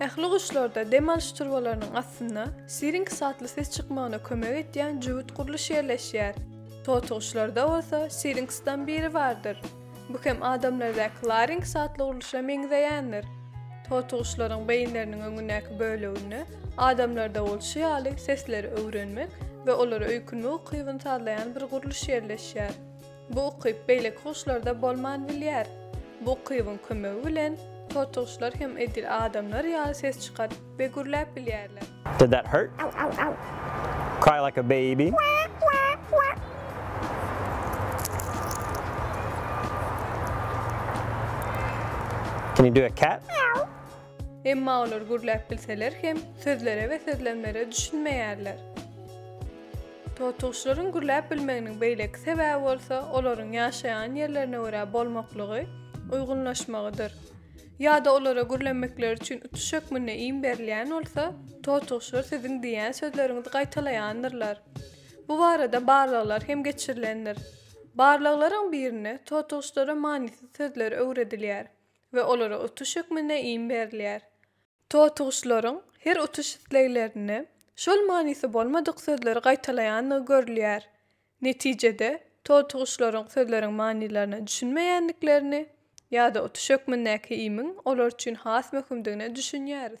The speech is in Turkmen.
Ähli guşlarda dem alyş turbalarynyň astynda sirinks atly ses çykmagyna kömek edýän jübüt gurluş ýerleşýär. Totyguşlarda bolsa sirinksdan biri bardyr. Bu hem adamlardaky larinks atly gurluşa meňzeýändir. Totyguşlaryň beýinleriniň öňündäki böleginde adamlarda bolşy ýaly sesleri öwrenmek we olara öýkünmek ukybyny sazlaýan bir gurluş ýerleşýär. Bu ukyp beýleki guşlarda bolman bilýär. Bu ukybyň kömegi bilen totyguşlar hem edil adamlar ýaly ses çykaryp we gürläp bilýärler. Did that hurt? Cry like a baby? Can you do a cat? Emma olar gürläp bilseler hem, sözlere we sözlemlere düşünmeýärler. Totuguşlaryň gürläp bilmeginiň beýleki sebäbi bolsa olaryň ýaşaýan ýerlerine görä bolmaklygy, uýgunlaşmagydyr. Ýa-da olara gürlemekleri üçin utuş hökmünde iým berilýän bolsa, totuguşlar siziň diýýän sözleriňizi gaýtalaýandyrlar. Bu barada barlaglar hem geçirilendir. Barlaglaryň birinde totuguşlara manysyz sözler öwredilýär we olara utuş hökmünde iým berilýär. Totuguşlaryň her uçuş isleglerinde şol manysy bolmadyk sözleri gaýtalaýandygy görülýär. Netijede, totuguşlaryň sözleriň manylaryna düşünmeýändiklerini ýa-da utuş hökmündäki imiň olar üçin has möhümdigine düşünýäris.